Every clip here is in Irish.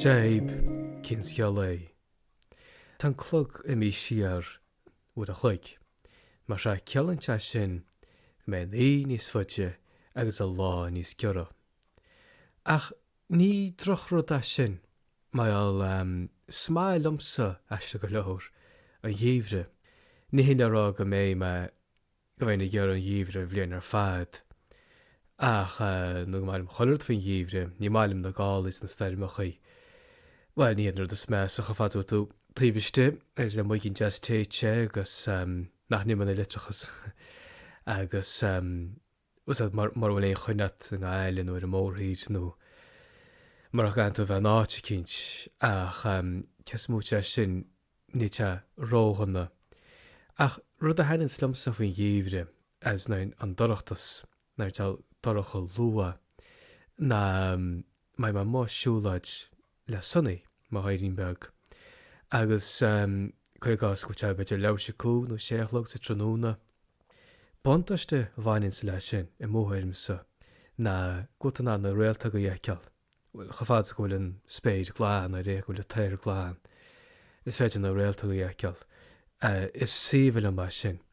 Yep, cén scéal é. Tá an clog imithe siar uair a chloig. Mar sin ciallaíonn sé sin go mbeidh an oíche níos faide agus an lá níos giorra. Ach ní drochrud é sin. Mar gheall is maith liomsa, aisteach go leor, an Gheimhreadh. Ní hin le rá go mbeidh mé, go mbeinn ag iarraidh an Gheimhreadh an bhliain ar fad. Ach, nó go maith liom chuile rud faoin Gheimhreadh, ní maith liom na gálaí is na stoirmeachaí. Bhuel, ní an rud is measa chomh fada tú taobh istigh agus le muigín deas tae te agus nach n-imíonn an leictreachas agus. mura bhfuil aon choinne ort i nGaillimh nó ar an mórthír nó mura gcaitheann tú a bheith in áit eicínt ach cés moite de sin, níl sé ródhona. Ach rud a thaitníonns liomsa faoin Gheimhreadh, agus an dorchadas, nuair atá sé dorcha luath, ná mbeidh mé amuigh ag siúlóid, le Sonny, mo ghaidhrín beag, agus, cuir i gcás, go bhfuil sé, b'fhéidir, leathuair théis a cúig nó sé a chlog sa tráthnóna. Buntáiste a bhaineanns leis sin, i mo thuairimse, ná go bhfuil tú in ann na réaltóga a fheiceáil, bhuel, chomh fada is go bhfuil an spéir glan, ar éigean go bhfuil an t-aer glan, is féidir na réaltóga a fheiceáil. Is aoibhinn liom é sin.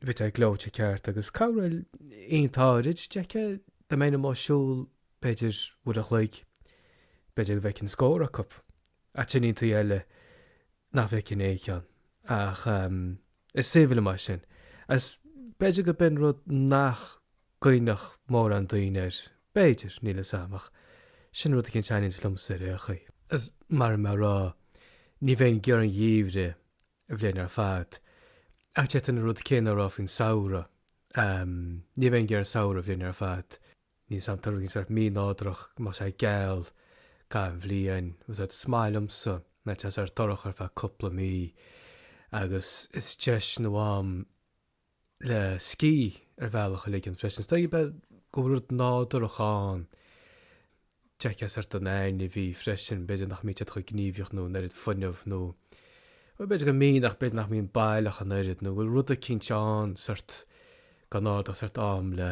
bhí siad gleoite ceart agus cabhraíl iontach áirid d'fheicfeá dá mbeinn amuigh ag siúl b'fhéidir uair a chloig, b'fhéidir go bhfeicfinn scór acu, ach sin oícheantaí eile nach bhfeicfinn aon cheann ach is aoibhinn liom é sin agus b'fhéidir go b'in rud nach gcuimhneodh mórán daoine air, b'fhéidir, níl 'fhios a'm ach sin rud eicínt a thaitníonn liomsa ar aon chaoi. Agus mar a bhí mé ag rá, ní bheinn ag iarraidh an gheimhreadh bhliain ar fad. Ach d'fhéadfainn an rud céanna a rá faoin samhradh. Ní bheinn ag iarraidh an samhradh bhliain ar fad. Níl 'fhios a'm tá rud éigin sórt mínádúrach má tá sé geal gan bhliain. Is é is maith liomsa nuair atá sé sórt dorcha ar feadh cúpla mí. Agus is deis nó am. le scíth ar bhealach a ligean freisin is dóigh go bhfuil rud nádúrach ann, d'fheicfeá sórt ar an ainmhí freisin, b'fhéidir nach mbíonn siad chomh gníomhach nó an oiread fuinnimh nó b'fhéidir go mbíonn ach b'fhéidir nach mbíonn baileach an oiread nó bhfuil rud eicínt ann sórt go nádúrtha sórt am le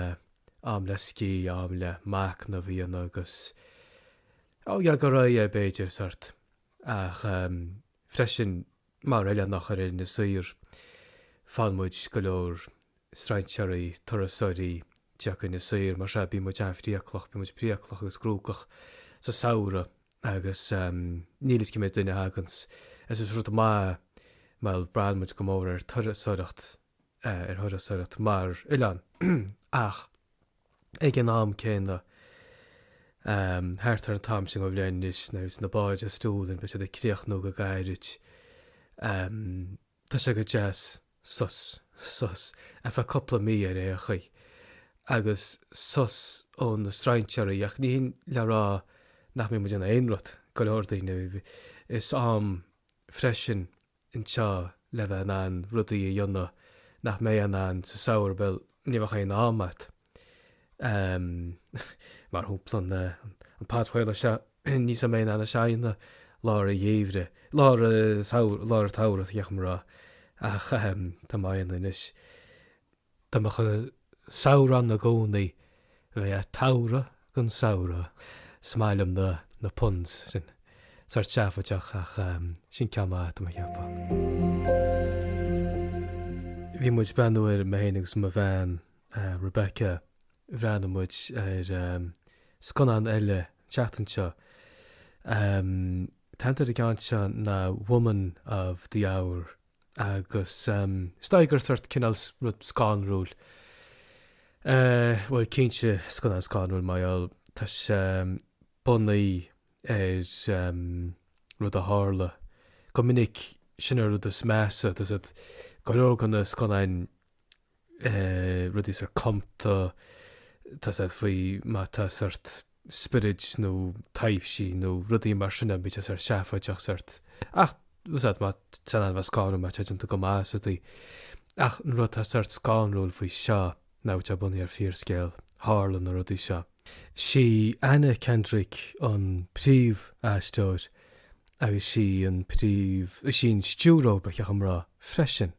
am le scíth, am le machnamh a dhéanamh agus a ghoil go réidh b'fhéidir sórt ach freisin, Mar oileánach ar oileán anseo faigheann muid, go leor strainséaraí, turasóirí, ag teacht anseo, mar sin, bíonn muid an-phriaclach, bíonn muid priaclach agus cruógach sa samhradh agus níl a fhios cé mhéad duine a thaganns, is is rud maith, mar gheall braitheann muid go mór ar turasóireacht ar thurasóireacht mar oileán. Ach ag an am céanna, thart ar an t-am sin go bhliain anois, nuair a bheas na báid ag stopadh agus beidh siad ag críochnú go gairid, tá sé go deas sos, sos ar feadh cúpla mí ar aon chaoi, agus sos ó na strainséirí. Ach ní le rá nach mbíonn muid in ann rud, go leor daoine. Is am freisin anseo le bheith in ann rudaí a dhéanamh nach mbeidh in ann sa samhradh, bhuel, ní bheadh aon am agat. Mar shompla, an podchraoladh seo, níl a fhios agam an mbeinn in ann é seo a dhéanamh lár an gheimhridh, lár an samhradh, lár an tsamhraidh, ba cheart dom a rá, ach tá mé á dhéanamh anois. Tá muid sa ngeimhreadh i gcónaí bheith a' tabhairt aire gon samhradh. 'S maith liom na, na puns sin. Sórt seafóideach ach sin ceann maith tá mé a' cheapadh. Bhí muid, breathnú ar, mé fhéin agus mo bhean Rebecca, bhreathnaigh muid ar scannán eile an tseachtain seo. An t-ainm ar an gceann seo ná Woman of the Hour. agus is dóigh gur sort, cineál, rud scanrúil é, bhuel, cinnte, scannán scanrúil, mar gheall, tá sé bunaithe ar rud a tharla go minic, sin an rud is measa, tá sort, go leor de na scannáin rudaí sórt cumtha atá siad faoi má tá sort spiorad nó taibhsí nó rudaí mar sin ann bíonn siad seafóideach sort ach fós tá siad in ann a bheith scanrúil má tá déanta go maith is rudaí ach an rud tá sort scanrúil faoi seo ná tá bunaithe ar fíorscéal tharla na rudaí seo. 'Sí Anna Kendrick an príomhaisteoir agus 'sí an príomh, 'sí an stiúrthóir ba cheart a rá, freisin,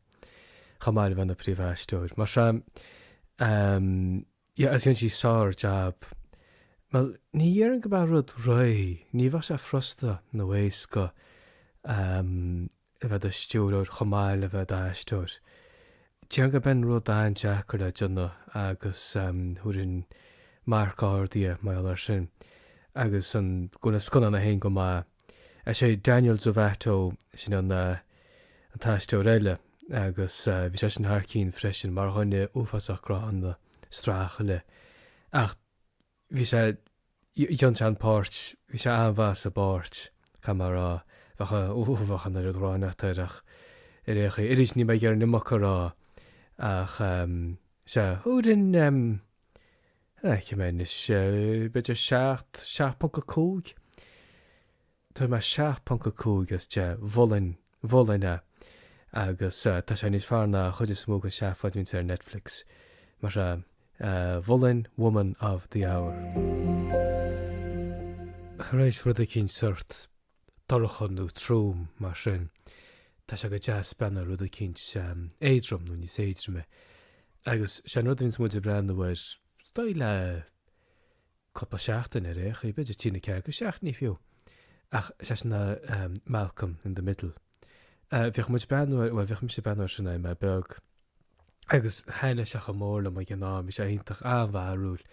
chomh maith le bheith ina príomhaisteoir. Mar sin, em, yeah, agus rinne sí sár-jab. Bhuel, ní dhéarfainn go mba rud réidh, ní bheadh sé furasta nó éasca, em, a bheith do stiúrthóir chomh maith le bheith d'aisteoir. Déarfainn go mba rud an-deacair le déanamh agus thabharfainn marc ard di mar gheall air sin. Agus ceann go na scannáin a théann go maith. Is é Daniel Zovatto, sin an an t-aisteoir eile agus bhí seisean thar cinn freisin mar dhuine uafásach gránna, strachaille. Ach. bhí sé in ann an pháirt, bhí sé an-mhaith sa bpáirt, caithfidh mé a rá, bheadh a, uh, bheadh an oiread gráin agat air ach ar aon chaoi, arís níl mé ag iarraidh an iomarca a rá ach ehm, sea, thabharfainn ehm, eh, cé mhéad anois, eh, b'fhéidir seacht, seacht ponc a cúig? tá 7.5 as 10 mholfainn é agus tá sé níos fearr ná an chuid is mó den seafóid a bhíonn ar Netflix, mar sin mholfainn Woman of the Hour. Tar éis rud eicínt sórt dorcha nó trom mar sin, tá sé go deas breathnú ar rud eicínt éadrom nó níos éadroime. Agus sé an rud a bhíonns muid ag breathnú air, is dóigh le, cúpla seachtain ar aon chaoi, b'fhéidir trí nó ceathair de seachtainí fiú, ach sé ná Malcolm in the Middle. Bhíodh muid breathnú ar, bhuel, bhíodh mise breathnú ar sin is mé beag agus thaitnigh sé chomh mór liom ag an am, bhí sé iontach an-bharúil.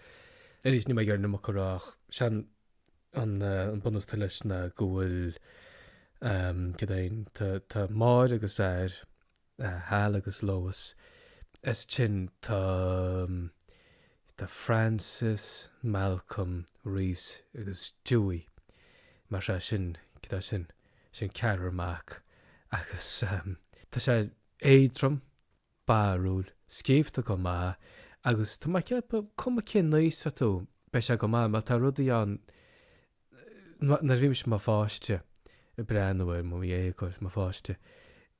Arís, níl mé ag iarraidh an iomarca a rá ach sé an bunús atá leis ná go bhfuil, cad é, tá máthair agus athair, Hal agus Lois, ansin tá tá Francis, Malcolm, Reese agus Dewey, mar sin, sin, tá sin, sin ceathrar mac agus tá sé éadrom, barrúil, sciobtha go maith agus tá mé ag ceapadh cuma cén aois atá tú, beidh sé go maith mar tá rudaí ann Nuair a bhí mise i mo pháiste, ag breathnú air i mo dhéagóir is mo pháiste,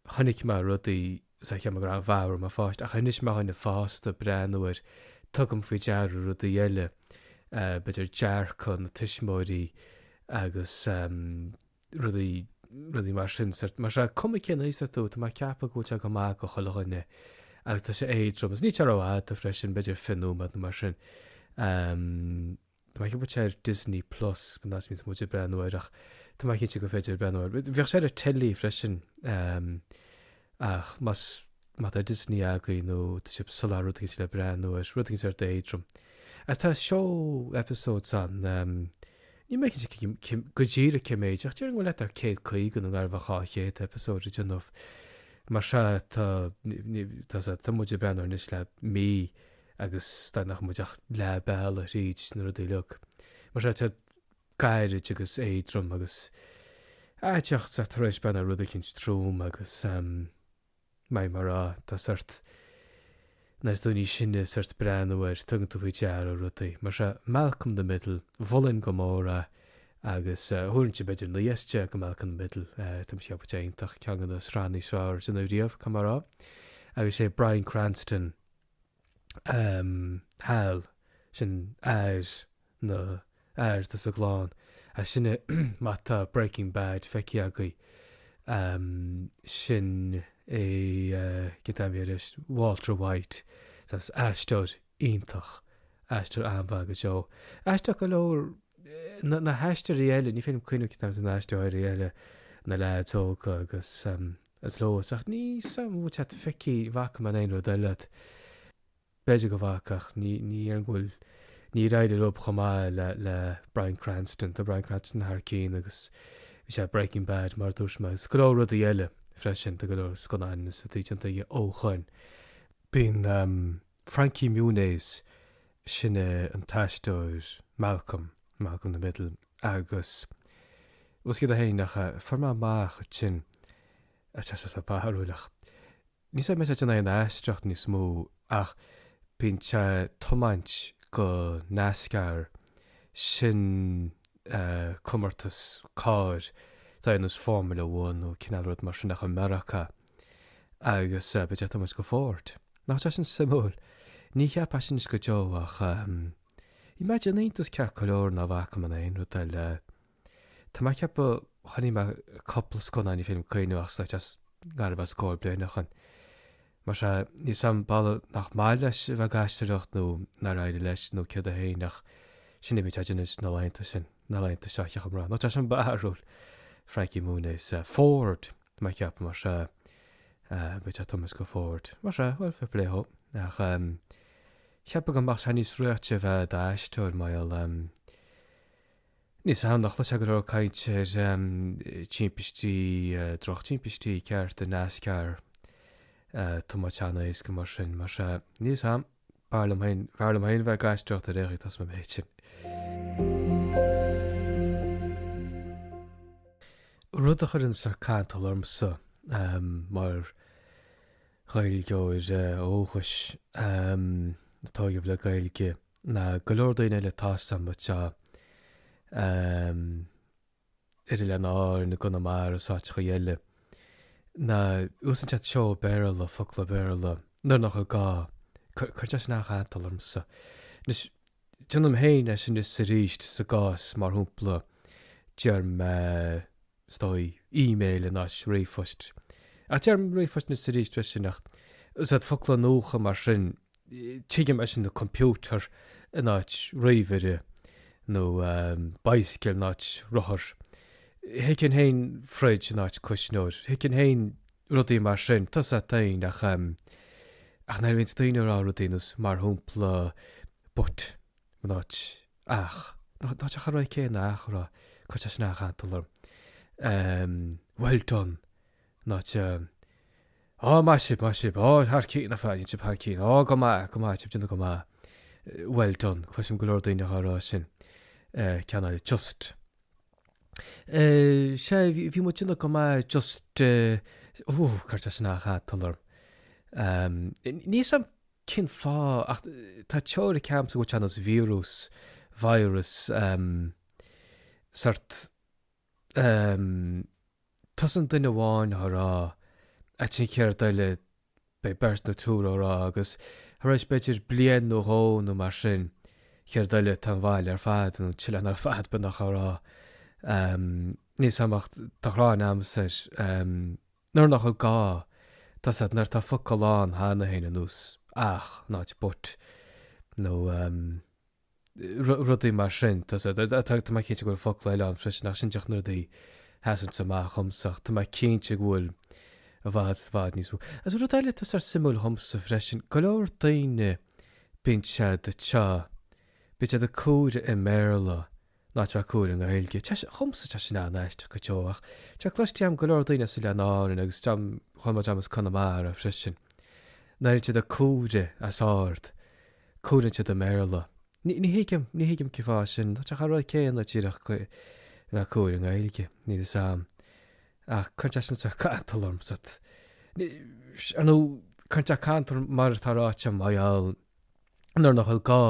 chonaic mé rudaí, a cheap mé greannmhar i mo pháiste, ach anois i mo dhuine fásta ag breathnú air, tugaim faoi deara rudaí eile, b'fhéidir dearcadh na tuismitheoirí agus rudaí, rudaí mar sin. Mar sin, cuma cén aois atá tú, tá mé ag ceapadh go bhfuil sé go maith do chuile dhuine agus tá sé éadrom, agus níl sé rófhada freisin, b'fhéidir fiche nóiméad nó mar sin. Tá mé ag ceapadh go bhfuil sé ar Disney Plus, sin an áit a mbíonns muid ag breathnú air ach tá mé cinnte gur féidir breathnú air. Bhíodh sé ar an teilí freisin ach más má tá Disney agaibh nó tá sibh ag soláthar rud éigin le breathnú air, rud éigin ar d'éadrom. Agus tá seó, episodes, ann, ní mé cinnte cé cé, go díreach cé méid ach déarfainn go bhfuil leat ar 150 nó gar do 200 episode I dunno, mar sin tá, ní, ní, tá, tá muid ag breathnú air anois le mí agus déarfainn nach bhfuil muid ach leath bealaigh thríd na rudaí uilig, mar sin, tá siad gairid agus éadrom agus aiteacht sa tar éis breathnú ar rud eicínt trom agus maith mar a tá sórt anois, daoine sine sórt breathnú air, tugann tú faoi deara rudaí, mar sin, Malcolm the Middle, mholfainn go mór é agus thabharfainnse b'fhéidir naoi as deich go Malcolm the Middle, tá mé ag ceapadh go bhfuil sé iontach, ceann de na sraitheanna is fearr a rinneadh riamh, ceann mar a agus sé Bryan Cranston, Hal, sin athair nó athair do sa chlann, sin é má tá Breaking Bad feicthe agaibh, sin é, cén t-ainm a bhí air arís, Walter White, tá sé aisteoir iontach, aisteoir an-mhaith go deo. Aisteach go leor, na haisteoirí eile, ní féidir liom cuimhneamh cén t-ainm atá ar na haisteoirí eile, na leaids óga agus. is Lois, ach níl a fhios agam an bhfuil siad feicthe, an bhfaca mé in aon rud eile iad, b'fhéidir go bhfaca, ach ní dhéarfainn go bhfuil, níor éirigh leob chomh maith le Bryan Cranston, tá Bryan Cranston thar cionn agus bhí sé i Breaking Bad mar a dúirt mé, is go leor rudaí eile freisin, tá go leor scannáin is rudaí déanta aige ó shoin, bíonn. Frankie Muniz, sin é an t-aisteoir Malcolm, Malcolm in the Middle, agus níl a fhios agam céard é féin ach fuair mé amach ansin, agus tá sé seo barúil ach níl sé ag déanamh aon aisteoireacht níos mó ach bíonn sé ag tiomáint do Nascar, sin comórtas carr, tá sé ar nós Formula One nó cineál rud mar sin ach i Meiriceá. agus bíonn sé ag tiomáint do Ford. Nach bhfuil sé sin suimiúil. Ní cheapfá sin go deo ach bhí mé ag déanamh iontas ceart go leor nach bhfaca mé in aon rud eile. Tá mé ag ceapadh chonaic mé cupla scannáin film eicínt leis ach is gar do scór bliain ó shin. Mar sea, níl a fhios agam ab é nach maith leis a bheith ag aisteoireacht nó nár éirigh leis nó céard é féin ach sin é bhí sé ins na laethanta sin, na laethanta seo seachas mar a. Nach bhfuil sé sin barúil! Frankie Muniz, Ford! mé ag ceapadh, mar sea, a bheith ag tiomáint do Ford? Mar sea, bhuel, fair play dhó, ach cheapfainn go mbeadh sé níos réitithe a bheith d'aisteoir mar gheall níl a fhios agam chloisfeá go leor caint ar timpistí, drochtimpistí, ceart i NASCAR, tiomáint an-éasca mar sin, mar sea, níl a fhios agam. B'fhearr liom féin, b'fhearr liom féin a bheith ag aisteoireacht ar aon chaoi, tá a fhios agam an méid sin. Rud a chuireanns an cantal ormsa mar Ghaeilgeoir ó dhúchais, a tóigeadh le Gaeilge, ná go leor daoine eile atá sa mbaile seo, ar fud na háite i gConamara is áiteachaí eile, ná úsáideann siad seó Béarla, focla Béarla, nuair nach gá. Cuireann sé sin an-chantal ormsa. Anois, déanaim féin anois is arís sa gcás, mar shampla, deirim, is dóigh, email in áit ríomhphost. Ach deirim ríomhphost anois is arís freisin, ach is iad focla nuacha mar sin, tuigim é sin, computer in áit ríomhaire. nó baidhsceal in áit rothar, thuigfinn féin fridge in áit cuisneoir, thuigfinn féin rudaí mar sin, tá fhios a'd féin, ach, ach nuair a bhíonns daoine ag rá rudaí ar nós mar shompla but in áit ach, nó tá sé chomh réidh céanna ach a rá, cuireann sé sin an-chantal orm, well done in áit Á, maith sibh, maith sibh! Á, thar cionn, ar fad sibh, thar cionn! Á, go maith, go maith, tá sibh déanamh go maith! Well done! Cloisim go leor daoine dhá rá sin. Cineál just. Sea, bhí muid déanamh go maith just. Ó, cuireann sé sin an-chantal orm. Níl fhios a'm cén fáth ach tá teoiric a'msa go tá sé ar nós víreas, virus, sórt. Tosaíonn duine amháin á rá, ansin an chéad rud eile, beidh beirt nó triúr á rá, agus tar éis b'fhéidir bliain nó dhó nó mar sin, chéad rud eile tá an baile ar fad, nó an t-oileán ar fad beagnach á rá, níl fhios a'm ach tá an ghráin a'msa air. Nuair nach bhfuil gá, tá fhios a'd, nuair atá focal ann, cheana féin, ar nós ach, in áit but, nó. rudaí mar sin. Tá mé cinnte go bhfuil focla eile ann freisin ach sin díreach na rudaí a sheasanns amach dhomsa ach tá mé cinnte go bhfuil i bhfad, i bhfad níos mó. Agus rud eile atá sórt suimiúil dhomsa freisin, go leor daoine bíonn siad ag bíonn siad ag comhaireamh i mBéarla, in áit a bheith ag comhaireamh i nGaeilge. Dhomsa tá sé sin an-aisteach go deo, ach tá cloiste agam go leor daoine as Oileáin Árann agus chomh maith as Conamara freisin. Nuair a bhíonn siad ag comhaireamh os ard, comhaireann siad i mBéarla. Ní thuigim, ní thuigim cén fáth sin, tá sé chomh réidh céanna díreach a bheith ag comhaireamh i nGaeilge, níl fhios a'm. Ach cuireann sé sin sórt cantal ormsa. Ar ndóigh, cuireann sé cantal mar atá ráite a'm mar gheall. nuair nach bhfuil gá,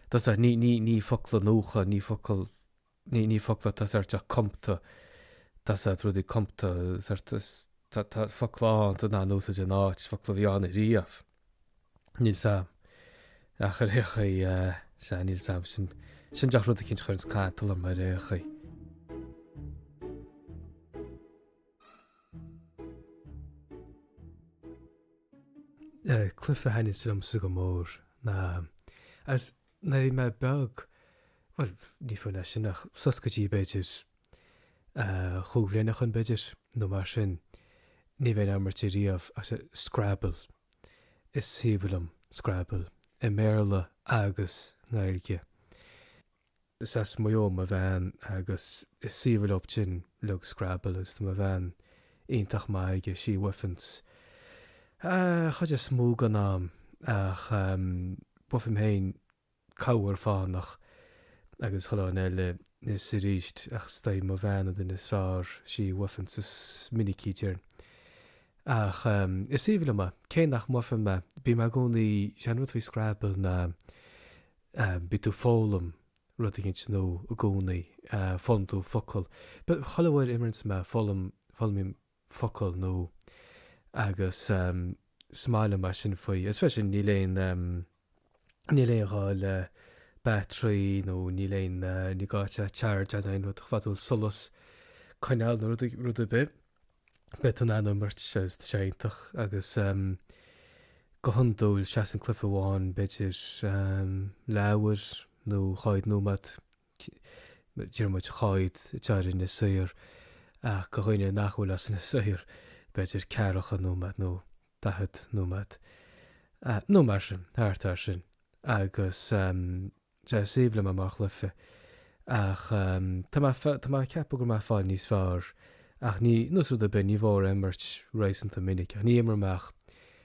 tá fhios a'd, ní, ní, ní focla núcha, ní focal, ní, ní focla atá sórt cumtha, tá fhios a'd, rudaí cumtha, sórt, is, tá, tá focla ann atá dhá n-úsáid in áit focla a bhí ann riamh. Níl fhios a'm, ach ar aon chaoi, sea, níl fhios a'm, sin, sin díreach rud eicínt a chuireanns cantal orm ar aon chaoi. Cluiche a thaitníonns liomsa go mór anois is nuair a bhí mé beag, bhuel, ní fiú an uair sin ach suas go dtí, b'fhéidir, chúig bhliana ó shin, b'fhéidir, nó mar sin, ní bhínn ag imirt ariamh, is é Scrabble. Is aoibhinn liom Scrabble, i mBéarla agus nGaeilge. Is as Maigh Eo mo bhean agus is aoibhinn leob sin uilig scrabble agus tá mo bhean iontach maith aige, sí a bhuachanns an chuid is mó den am ach buachaim féin corruair fánach agus chuile dhuine eile anois is arís ach is dóigh mo bhean an duine is fearr, sí a bhuachanns is minicí déarfainn ach is aoibhinn liom é, cé nach mbuachaim é, bím i gcónaí, is é an rud faoi scrabble ná. bíonn tú ag foghlaim rud éigint nua i gcónaí, foghlaimíonn tú focail, but chuile uair a imríonn mé foghlaim, foghlaimím focail nua agus is maith liom é sin faoi, agus freisin níl aon, níl aon ghá le battery nó níl aon, ní gá duit charging aon rud, fad is go bhfuil solas, coinneal nó rud ar bith. Beidh tú in ann imirt is tá sé iontach agus go hiondúil seasann cluife amháin b'fhéidir leathuair nó cáid nóimeat, deir muid cáid i dteorainn na saor ach do dhaoine nach bhfuil as na saor b'fhéidir ceathracha nóimeat nó daichead nóimeat nó mar sin thart air sin agus Sea, is aoibhinn liom é mar chluife. Ach tá mé, tá mé ag ceapadh go bhfuil mé ag fáil níos fearr, ach ní, nós rud ar bith, ní mór é a imirt réasúnta minic, ach ní imríonn mé ach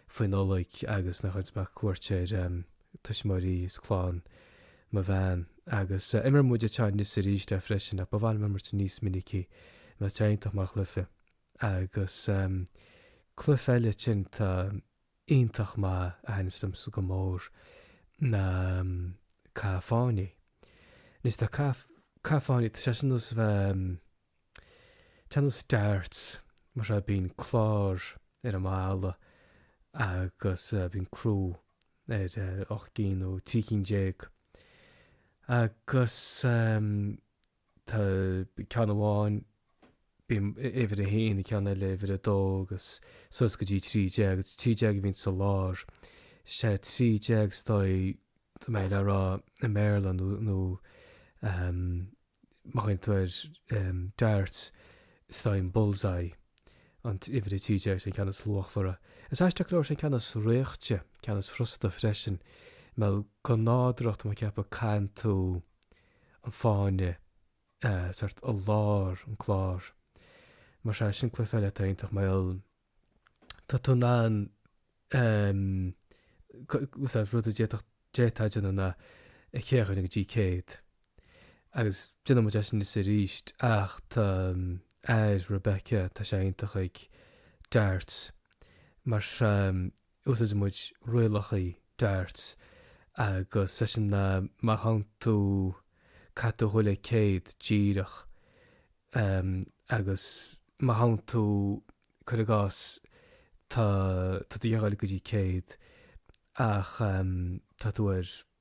faoi Nollaig agus nuair a thuganns mé cuairt ar tuismitheoirí is clann mo bhean. Agus imríonn muid féin anois is arís é freisin, ach ba mhaith liom imirt níos minicí mar tá sé iontach mar chluife. Agus cluife eile ansin atá. iontach maith a thaitníonns liomsa go mór ná caitheamh fáinní. Anois tá caith, caitheamh fáinní, tá sé sin nós a bheith, cineál nós darts mar seo, bíonn clár ar an mballa agus bíonn crú air, ocht gcinn nó trí cinn déag agus, tá ceann amháin, bíonn uimhir a haon, ceann eile uimhir a dó agus suas go dtí trí déag, agus trí déag a bhíonns sa lár. Is é trí déag is dóigh le mé le rá i mBéarla nó nó má théann tú ar darts is dóigh an bullseye an uimhir a trí déag, sin an ceann is luachmhara. Is aisteach go leor, sin an ceann is réidhchte, ceann is frusta freisin. Bhuel go nádúrtha tá mé ag ceapadh caitheann tú, an fáinne sórt i lár an clár. Mar sin, sin cluife eile atá iontach maith. Bhuel, tá tú in ann, is rud a d'fhéadfá a dhéanamh ná an chéad duine go dtí céad agus déanann muid é sin anois is arís ach tá, eh, Rebecca tá sí iontach ag darts mar úsáideann muid rialachaí darts agus leis sin ná má théann tú caithfidh tú a dhul ag céad díreach agus má théann tú, cuir i gcás, tá tú ag iarraidh fháil go dtí céad ach tá tú ar.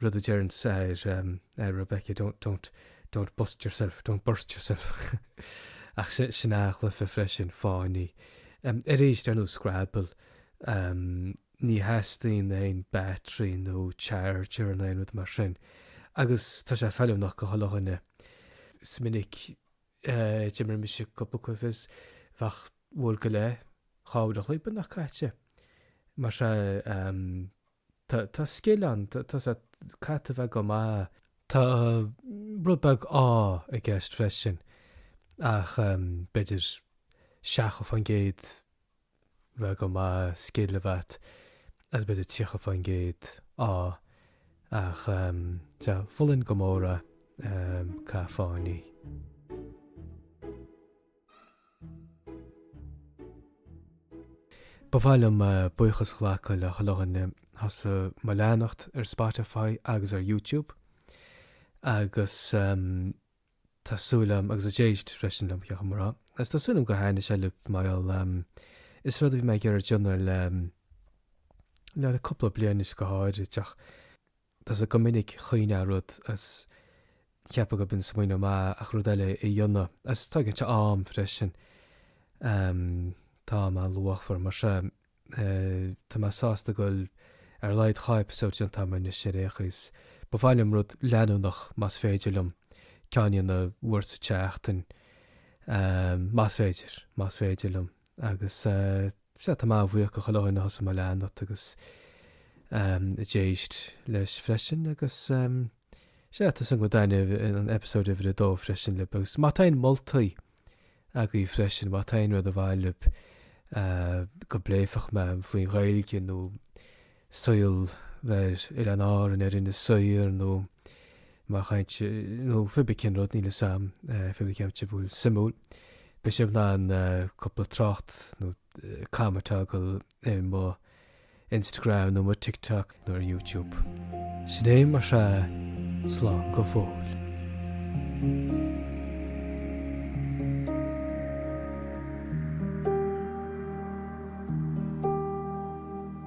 rud a deireann siad Rebecca don't, don't, don't bust yourself, don't burst yourself ach is an-chluife freisin, fáinní. Arís, ar nós Scrabble, ní theastaíonn aon battery nó charger nó aon rud mar sin agus tá sé feiliúnach do chuile dhuine. Is minic a d'imir mise cúpla cluife is bheadh uair go leith, dhá uair a chloig beagnach caite mar sea. Tá scil ann, tá, caithfidh tú bheith go maith. Tá rud beag ádh i gceist freisin, ach b'fhéidir 70% bheith go maith, scil a bheith agat, b'fhéidir 30% ádh, ach sea, mholfainn go mór é, caitheamh fáinní. Ba mhaith liom buíochas a ghlacadh le chuile dhuine a thosaigh mo leanacht ar Spotify agus ar YouTube agus tá súil agam, agus a d'éist freisin liom, ba cheart dom a rá, agus tá súil agam gur thaitnigh sé libh mar gheall, is rud a bhí mé ag iarraidh déanamh le cúpla bliain anois go háirid ach, Tá sé go minic cuimhneamh ar rud, a's ceapadh gurb in smaoineamh maith, ach rud eile é a dhéanamh, a's tóigeann sé am freisin. Tá am an-luachmhar, mar sea. Tá mé sásta go bhfuil ar a laghad dhá eipeasóid déanta agam anois ar aon chaoi. Ba mhaith liom rud leanúnach, más féidir liom, ceann a dhéanamh uair sa tseachtain, más féidir, más féidir liom, agus. Sea, tá mé an-bhuíoch de chuile dhuine a thosaigh mo leanacht agus a d'éist leis freisin. Agus sea, tá súil agam go dtaitneoidh an eipeasóid uimhir a dó freisin libh. Agus má tá aon mholtaí agaibh freisin, má tá aon rud ar mhaith libh go bpléifeadh mé faoin Ghaeilge nó, saol bheith ar Oileáin Árann ar Inis Oírr nó mar chaint nó péibí cén rud, níl 'fhios a'm, péibí a cheapaim a bhfuil suimiúil. Beidh sibh in ann cúpla trácht nó comment a fhágail ar mo Instagram nó mo TikTok nó ar YouTube. Sin é mar sea, slán go fóill.